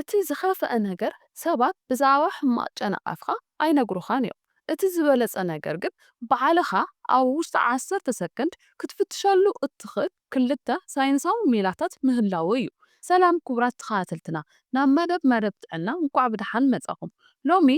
እቲ ዝኸፍኣ ነገር ሰባት ብዛዕባ ሕማቕ ጨናቓፍካ ኣይነግሩኻን እዮም። እቲ ዝበለጸ ነገር ግን ባዕልኻ ኣብ ውሽጢ ዓሰርተ ሰከንድ ክትፍትሸሉ እትኽእል ክልተ ሳይንሳዊ ሜላታት ምህላዉ እዩ። ሰላም ክቡራት ተኸታተልትና ናብ መደብ መደብ ጥዕና እንቋዕ ብደሓን መጻኹም። ሎሚ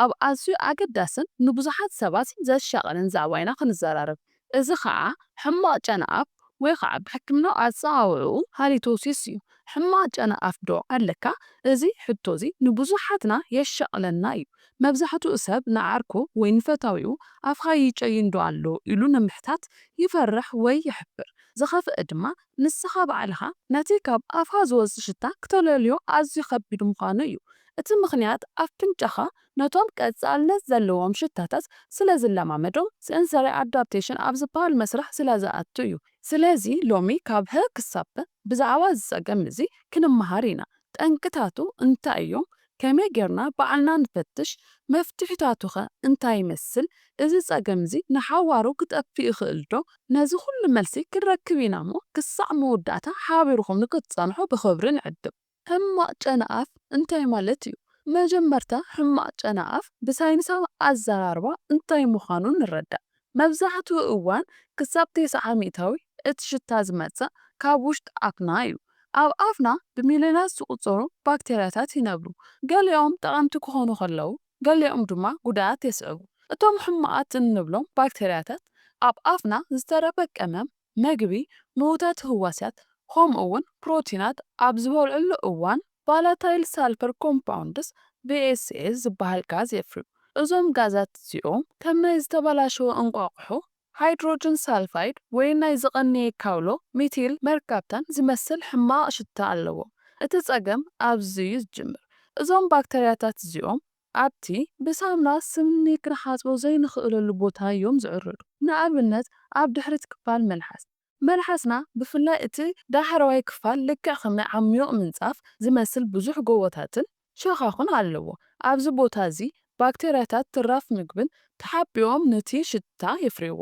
ኣብ ኣዝዩ ኣገዳስን ንብዙሓት ሰባት ዘሻቕልን ዛዕባ ኢና ክንዘራረብ። እዚ ኸኣ ሕማቕ ጨና ኣፍ ወይ ኸኣ ብሕክምናዊ ኣጸዋውዕኡ ሃሊቶሲስ እዩ። ሕማቕ ጨና ኣፍ ዶ ኣለካ? እዚ ሕቶ እዚ ንብዙሓትና የሻቕለና እዩ። መብዛሕትኡ ሰብ ንዓርኩ ወይ ንፈታዊኡ ኣፍካ ይጨይን ዶ ኣሎ ኢሉ ንምሕታት ይፈርሕ ወይ ይሕፍር። ዝኸፍኣ ድማ ንስኻ ባዕልኻ ነቲ ካብ ኣፍካ ዝወጽእ ሽታ ክተለልዮ ኣዝዩ ከቢድ ምዃኑ እዩ። እቲ ምኽንያት ኣፍንጫኻ ነቶም ቀጻልነት ዘለዎም ሽታታት ስለ ዝለማመዶም፣ ሰንሰሪ ኣዳፕቴሽን ኣብ ዝበሃል መስርሕ ስለ ዝኣቱ እዩ። ስለዚ ሎሚ ካብ ሀ ክሳብ ፐ ብዛዕባ እዚ ጸገም እዚ ክንመሃር ኢና። ጠንቅታቱ እንታይ እዮም? ከመይ ጌርና ባዕልና ንፈትሽ? መፍትሒታቱኸ እንታይ ይመስል? እዚ ጸገም እዚ ንሓዋሩ ክጠፍእ ይኽእልዶ? ነዚ ኩሉ መልሲ ክንረክብ ኢናሞ ክሳዕ መወዳእታ ሓቢርኩም ንክትጸንሑ ብኽብሪ ንዕድም። ሕማቕ ጨናኣፍ እንታይ ማለት እዩ? መጀመርታ ሕማቕ ጨናኣፍ ብሳይንሳዊ ኣዘራርባ እንታይ ምዃኑ ንረዳእ። መብዛሕትኡ እዋን ክሳብ ተስዓ ሚእታዊ እቲ ሽታ ዝመጽእ ካብ ውሽጢ ኣፍና እዩ። ኣብ ኣፍና ብሚልዮናት ዝቑጸሩ ባክተርያታት ይነብሩ። ገሊኦም ጠቐምቲ ክኾኑ ከለዉ ገሊኦም ድማ ጉድኣት የስዕቡ። እቶም ሕማቓት እንብሎም ባክተርያታት ኣብ ኣፍና ዝተረፈ ቀመም፣ መግቢ ምዉታት ህዋስያት ከምኡ'ውን ፕሮቲናት ኣብ ዝበልዕሉ እዋን ቫላታይል ሳልፈር ኮምፓውንድስ፣ VSS፣ ዝበሃል ጋዝ የፍርዩ። እዞም ጋዛት እዚኦም ከም ናይ ዝተበላሸወ እንቋቑሖ፣ ሃይድሮጅን ሳልፋይድ፣ ወይ ናይ ዝቐነየ ካውሎ፣ ሚቲል መርካፕታን፣ ዝመስል ሕማቕ ሽታ ኣለዎም። እቲ ጸገም ኣብዚ'ዩ ዝጅምር። እዞም ባክተርያታት እዚኦም ኣብቲ ብሳምና ስኒ ክንሓጽቦ ዘይንኽእለሉ ቦታ እዮም ዝዕርዱ። ንኣብነት ኣብ ድሕሪት ክፋል መልሓስ። መልሓስና ብፍላይ እቲ ዳሕረዋይ ክፋል ልክዕ ከም ናይ ዓሚዩቕ ምንጻፍ ዝመስል ብዙሕ ጎቦታትን ሸኻኹን ኣለዎ። ኣብዚ ቦታ እዚ ባክተርያታት ትራፍ ምግብን ተሓቢኦም ነቲ ሽታ የፍርይዎ።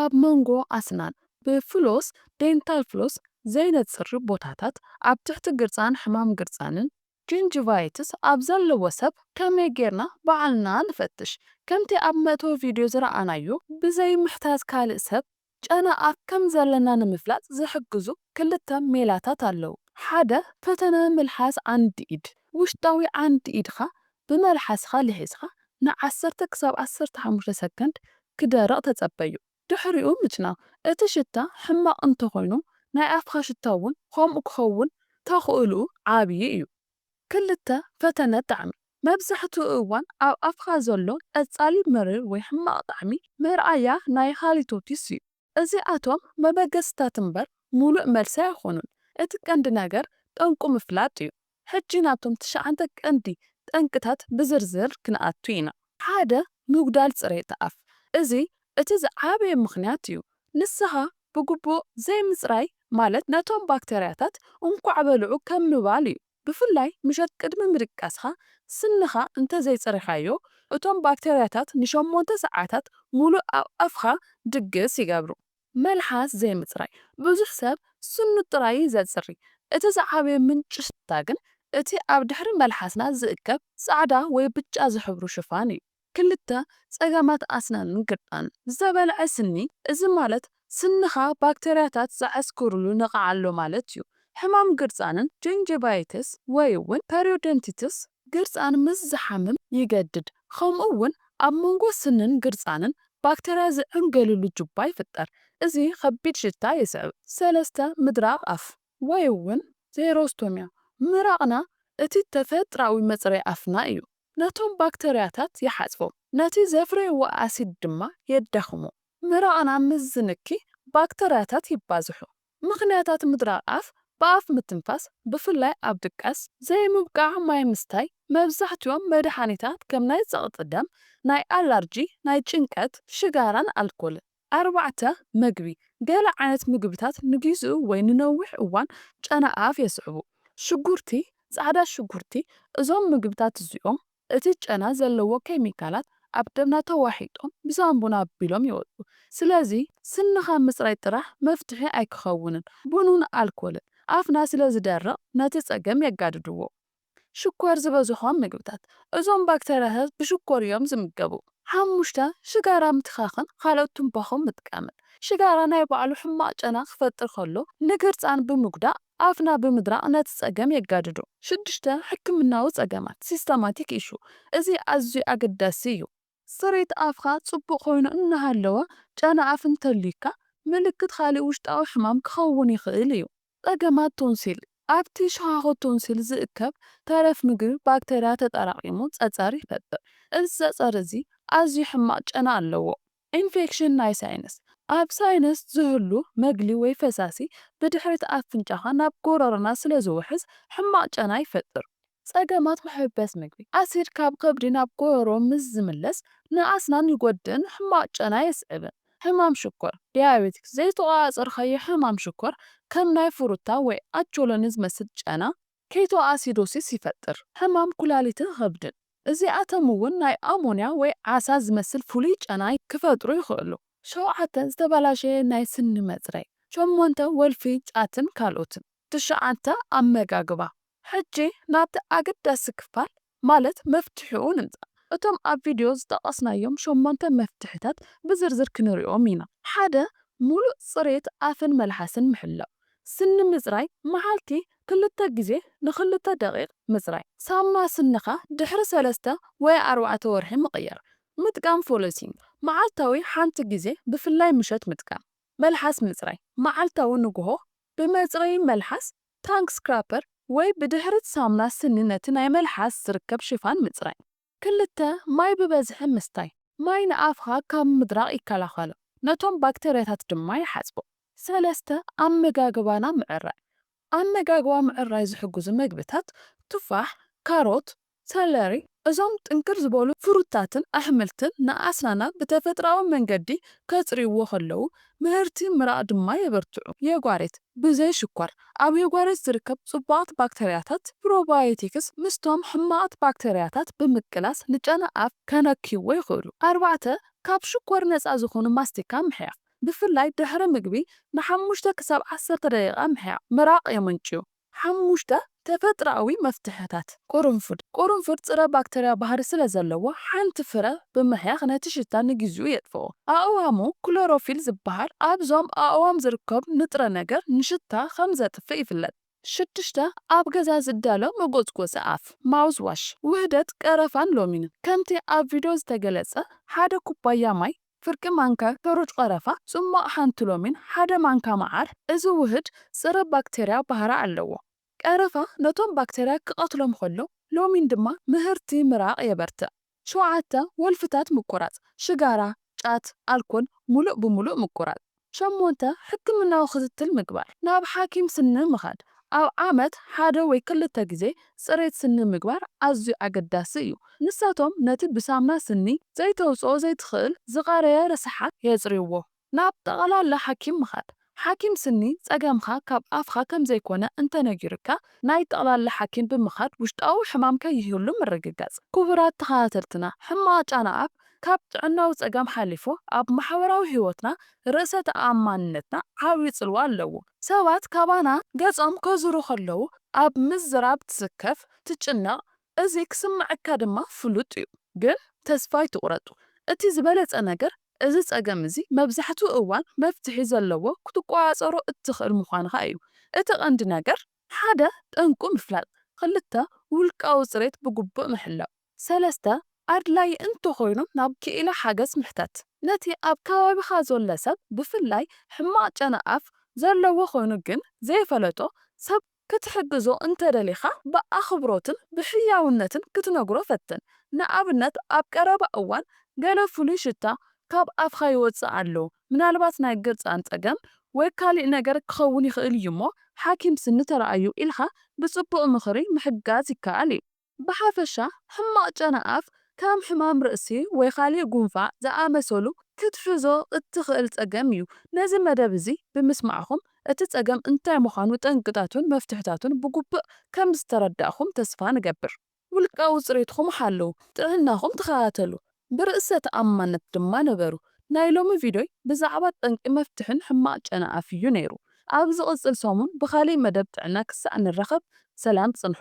ኣብ መንጎ ኣስናን ብፍሎስ፣ Dental Floss፣ ዘይነጽር ቦታታት፣ ኣብ ትሕቲ ግርጻን ሕማም ግርጻንን፣ ጊንጂቫይትስ ኣብ ዘለዎ ሰብ ከመይ ጌርና ባዕልና ንፈትሽ? ከምቲ ኣብ መእተዊ ቪድዮ ዝረኣናዮ፣ ብዘይ ምሕታት ካልእ ሰብ ጨና ኣፍ ከም ዘለና ንምፍላጥ ዝሕግዙ ክልተ ሜላታት ኣለዉ። ሓደ፣ ፈተነ ምልሓስ ዓንዲ ኢድ፣ ውሽጣዊ ዓንዲ ኢድካ ብመልሓስካ ልሒስካ ንዓሰርተ ክሳብ ዓሰርተ ሓሙሽተ ሰከንድ ክደርቕ ተጸበዮ። ድሕሪኡ ምጭናቕ። እቲ ሽታ ሕማቕ እንተኾይኑ ናይ ኣፍካ ሽታ እውን ከምኡ ክኸውን ተኽእልኡ ዓብዪ እዩ። ክልተ፣ ፈተነ ጣዕሚ። መብዛሕትኡ እዋን ኣብ ኣፍካ ዘሎ ቀጻሊ መሪር ወይ ሕማቕ ጣዕሚ መርኣያ ናይ ሃሊቶሲስ እዩ። እዚኣቶም መበገሲታት እምበር ምሉእ መልሲ ኣይኮኑን። እቲ ቀንዲ ነገር ጠንቁ ምፍላጥ እዩ። ሕጂ ናብቶም ትሽዓንተ ቀንዲ ጠንቅታት ብዝርዝር ክንኣቱ ኢና። ሓደ፣ ምጉዳል ጽሬት ኣፍ፣ እዚ እቲ ዝዓበየ ምኽንያት እዩ። ንስሃ ብግቡእ ዘይምጽራይ ማለት ነቶም ባክተርያታት እንቋዕ በልዑ ከም ምባል እዩ። ብፍላይ ምሸት ቅድሚ ምድቃስኻ ስንኻ እንተ ዘይጸሪኻዮ፣ እቶም ባክተርያታት ንሸሞንተ ሰዓታት ምሉእ ኣብ ኣፍካ ድግስ ይገብሩ። መልሓስ ዘይምጽራይ ብዙሕ ሰብ ስኑ ጥራይ እዩ ዘጽሪ። እቲ ዝዓበየ ምንጪ ሽታ ግን እቲ ኣብ ድሕሪ መልሓስና ዝእከብ ጻዕዳ ወይ ብጫ ዝሕብሩ ሽፋን እዩ። ክልተ፣ ጸገማት ኣስናንን ግርጣንን። ዝተበልዐ ስኒ፣ እዚ ማለት ስንኻ ባክተርያታት ዝዓስክሩሉ ነቓዕ ኣሎ ማለት እዩ። ሕማም ግርጻንን፣ ጀንጀቫይትስ ወይ'ውን ፐሪዮደንቲትስ፣ ግርጻን ምስ ዝሓምም ይገድድ፣ ከምኡ'ውን ኣብ መንጎ ስንን ግርጻንን ባክተርያ ዝዕንገልሉ ጁባ ይፍጠር፣ እዚ ከቢድ ሽታ የስዕብ። ሰለስተ፣ ምድራቕ ኣፍ ወይ'ውን ዜሮስቶሚያ፣ ምራቕና እቲ ተፈጥራዊ መጽረዪ ኣፍና እዩ፣ ነቶም ባክተርያታት ይሓጽቦም፣ ነቲ ዘፍረይዎ ኣሲድ ድማ የዳኽሞ፣ ምራቕና ምስ ዝንኪ ባክተርያታት ይባዝሑ፣ ምኽንያታት ምድራቕ ኣፍ፣ ብኣፍ ምትንፋስ፣ ብፍላይ ኣብ ድቃስ፣ ዘይምብቃዕ ማይ ምስታይ፣ መብዛሕትኦም መድሓኒታት ከም ናይ ጸቕጢ ደም፣ ናይ ኣላርጂ፣ ናይ ጭንቀት፣ ሽጋራን ኣልኮልን። ኣርባዕተ፣ መግቢ፣ ገለ ዓይነት ምግብታት ንጊዚኡ ወይ ንነዊሕ እዋን ጨና ኣፍ የስዕቡ፣ ሽጉርቲ፣ ጻዕዳ ሽጉርቲ፣ እዞም ምግብታት እዚኦም እቲ ጨና ዘለዎ ኬሚካላት ኣብ ደምና ተዋሒጦም ብሳንቡና ኣቢሎም ይወጹ። ስለዚ ስንኻ ምጽራይ ጥራሕ መፍትሒ ኣይክኸውንን። ቡንን ኣልኮልን ኣፍና ስለ ዝደርቕ ነቲ ጸገም የጋድድዎ። ሽኮር ዝበዝሖም ምግብታት፣ እዞም ባክተርያታት ብሽኮር እዮም ዝምገቡ። ሓሙሽተ፣ ሽጋራ ምትካኽን ካልኦት ቱምባኾ ምጥቃምን። ሽጋራ ናይ ባዕሉ ሕማቕ ጨና ክፈጥር ከሎ ንግርጻን ብምጉዳእ ኣፍና ብምድራቕ ነቲ ጸገም የጋድዶ። ሽዱሽተ፣ ሕክምናዊ ጸገማት፣ Systematic Issue፣ እዚ ኣዝዩ ኣገዳሲ እዩ። ጽሬት ኣፍካ ጽቡቕ ኮይኑ እናሃለወ ጨና ኣፍ እንተልዩካ፣ ምልክት ካልእ ውሽጣዊ ሕማም ክኸውን ይኽእል እዩ። ጸገማት ቶንሲል፣ ኣብቲ ሸዃዅት ቶንሲል ዝእከብ ተረፍ ምግቢ ባክተርያ ተጠራቒሙ ጸጸር ይፈጥር። እዚ ጸጸር እዚ ኣዝዩ ሕማቕ ጨና ኣለዎ። ኢንፌክሽን ናይ ሳይነስ፣ ኣብ ሳይነስ ዝህሉ መግሊ ወይ ፈሳሲ ብድሕሪት ኣፍንጫኻ ናብ ጎሮሮና ስለ ዝውሕዝ ሕማቕ ጨና ይፈጥር። ጸገማት መሕበስ ምግቢ፣ ኣሲድ ካብ ከብዲ ናብ ጎሮሮ ምስ ዝምለስ ንኣስናን ይጎድእን ሕማቕ ጨና የስዕብን። ሕማም ሽኮር፣ ዲያቤቲክስ፣ ዘይተቖጻጸርካዮ ሕማም ሽኮር፣ ከም ናይ ፍሩታ ወይ ኣቾሎኒ ዝመስል ጨና፣ ኬቶኣሲዶሲስ ይፈጥር፣ ሕማም ኩላሊትን ኸብድን። እዚኣቶም እውን ናይ ኣሞንያ ወይ ዓሳ ዝመስል ፍሉይ ጨና ክፈጥሩ ይኽእሉ። ሸውዓተ፣ ዝተበላሸየ ናይ ስኒ መጽረይ። ሸሞንተ፣ ወልፊ ጫትን ካልኦትን። ትሽዓተ፣ ኣመጋግባ። ሕጂ ናብቲ ኣገዳሲ ክፋል ማለት መፍትሒኡ ንምጻእ እቶም ኣብ ቪድዮ ዝጠቐስናዮም ሸሞንተ መፍትሒታት ብዝርዝር ክንሪኦም ኢና። ሓደ፣ ምሉእ ጽሬት ኣፍን መልሓስን ምሕላው። ስኒ ምጽራይ፣ መዓልቲ ክልተ ግዜ ንክልተ ደቒቕ ምጽራይ። ሳሙና ስንኻ ድሕሪ ሰለስተ ወይ ኣርባዕተ ወርሒ ምቕያር። ምጥቃም ፎሎሲንግ፣ መዓልታዊ ሓንቲ ግዜ ብፍላይ ምሸት ምጥቃም። መልሓስ ምጽራይ፣ መዓልታዊ ንግሆ ብመጽረዪ መልሓስ ታንግ ስክራፐር ወይ ብድሕሪት ሳሙና ስኒ ነቲ ናይ መልሓስ ዝርከብ ሽፋን ምጽራይ። ክልተ፣ ማይ ብበዝሒ ምስታይ፣ ማይ ንኣፍካ ካብ ምድራቕ ይከላኸሎ፣ ነቶም ባክተርያታት ድማ ይሓጽቦ። ሰለስተ፣ ኣመጋግባና ምዕራይ፣ ኣመጋግባ ምዕራይ ዝሕግዙ መግብታት፣ ቱፋሕ፣ ካሮት፣ ሰለሪ፣ እዞም ጥንክር ዝበሉ ፍሩታትን ኣሕምልትን ንኣስናና ብተፈጥሮኣዊ መንገዲ ከጽርይዎ ከለዉ፣ ምህርቲ ምራቕ ድማ የበርትዑ። የጓሬት፣ ብዘይ ሽኮር፣ ኣብ የጓሬት ዝርከብ ጽቡቓት ባክተርያታት፣ ፕሮባዮቲክስ፣ ምስቶም ሕማቓት ባክተርያታት ብምቅላስ ንጨና ኣፍ ከነክይዎ ይኽእሉ። ኣርባዕተ፣ ካብ ሽኮር ነጻ ዝኾኑ ማስቲካ ምሕያኽ፣ ብፍላይ ድሕሪ ምግቢ ንሓሙሽተ ክሳብ ዓሰርተ ደቂቓ ምሕያቕ፣ ምራቕ የመንጭዩ። ሓሙሽተ፣ ተፈጥሮኣዊ መፍትሕታት ቁሩንፉድ፣ ቁሩንፉድ ጽረ ባክተርያ ባህሪ ስለ ዘለዎ ሓንቲ ፍረ ብምሕያኽ ነቲ ሽታ ንግዚኡ የጥፍኦ። ኣእዋሙ፣ ክሎሮፊል ዝበሃል ኣብዞም ኣእዋም ዝርከብ ንጥረ ነገር ንሽታ ከም ዘጥፍእ ይፍለጥ። ሽዱሽተ፣ ኣብ ገዛ ዝዳሎ መጎጽጎጺ ኣፍ፣ ማውዝ ዋሽ፣ ውህደት ቀረፋን ሎሚንን፣ ከምቲ ኣብ ቪድዮ ዝተገለጸ ሓደ ኩባያ ማይ፣ ፍርቂ ማንካ ሕሩጭ ቐረፋ፣ ጽሟቕ ሓንቲ ሎሚን፣ ሓደ ማንካ መዓር፣ እዚ ውህድ ጸረ ባክተርያ ባህሪ ኣለዎ። ቀረፋ ነቶም ባክተርያ ክቐትሎም ኸሎ፣ ሎሚን ድማ ምህርቲ ምራቕ የበርትዕ። ሸውዓተ፣ ወልፍታት ምቁራጽ፣ ሽጋራ፣ ጫት፣ ኣልኮል፣ ምሉእ ብምሉእ ምቁራጽ። ሸሞንተ፣ ሕክምናዊ ክትትል ምግባር፣ ናብ ሓኪም ስኒ ምኻድ፣ ኣብ ዓመት ሓደ ወይ ክልተ ግዜ ጽሬት ስኒ ምግባር ኣዝዩ ኣገዳሲ እዩ። ንሳቶም ነቲ ብሳምና ስኒ ዘይተውጽኦ ዘይትኽእል ዝቐረየ ረሳሓት የጽርይዎ። ናብ ጠቕላላ ሓኪም ምኻድ፣ ሓኪም ስኒ ጸገምካ ካብ ኣፍካ ከም ዘይኮነ እንተ ነጊሩካ ናይ ጠቕላላ ሓኪም ብምኻድ ውሽጣዊ ሕማም ከይህሉ ምርግጋጽ። ክቡራት ተኸታተልትና ሕማቕ ጫና ኣፍ ካብ ጥዕናዊ ጸገም ሓሊፉ ኣብ ማሕበራዊ ህይወትና ርእሰ ተኣማንነትና ዓቢ ጽልዋ ኣለዎ። ሰባት ካባና ገጾም ከዙሩ ከለዉ ኣብ ምዝራብ ትስከፍ፣ ትጭነቕ፣ እዚ ክስመዐካ ድማ ፍሉጥ እዩ። ግን ተስፋ ኣይትቑረጡ። እቲ ዝበለጸ ነገር እዚ ጸገም እዚ መብዛሕትኡ እዋን መፍትሒ ዘለዎ ክትቆጻጸሮ እትኽእል ምዃንኻ እዩ። እቲ ቀንዲ ነገር። ሓደ፣ ጠንቁ ምፍላጥ። ክልተ፣ ውልቃዊ ጽሬት ብግቡእ ምሕላው። ሰለስተ፣ ኣድላዪ እንተኾይኑ ናብ ክኢላ ሓገዝ ምሕተት። ነቲ ኣብ ከባቢኻ ዘሎ ሰብ ብፍላይ ሕማቕ ጨና ኣፍ ዘለዎ ኮይኑ ግን ዘይፈለጦ ሰብ ክትሕግዞ እንተደሊኻ ብኣኽብሮትን ብሕያውነትን ክትነግሮ ፈትን። ንኣብነት ኣብ ቀረባ እዋን ገለ ፍሉይ ሽታ ካብ ኣፍካ ይወጽእ ኣሎ፣ ምናልባት ናይ ግርጻን ጸገም ወይ ካልእ ነገር ክኸውን ይኽእል እዩ'ሞ ሓኪም ስኒ ተራኣዩ ኢልካ ብጽቡቕ ምኽሪ ምሕጋዝ ይከኣል እዩ። ብሓፈሻ ሕማቕ ጨና ኣፍ ከም ሕማም ርእሲ ወይ ካልእ ጉንፋዕ ዝኣመሰሉ ክትሕዞ እትኽእል ጸገም እዩ። ነዚ መደብ እዚ ብምስማዕኩም እቲ ጸገም እንታይ ምዃኑ ጠንቅታቱን መፍትሕታቱን ብግቡእ ከም ዝተረዳእኩም ተስፋ ንገብር። ውልቃዊ ጽሬትኩም ሓልው፣ ጥዕናኹም ተኸታተሉ፣ ብርእሰ ተኣማንነት ድማ ንበሩ። ናይ ሎሚ ቪድዮይ ብዛዕባ ጠንቂ መፍትሕን ሕማቕ ጨና ኣፍ እዩ ነይሩ። ኣብ ዝቕጽል ሰሙን ብኻልእ መደብ ጥዕና ክሳዕ ንራኸብ ሰላም ጽንሑ።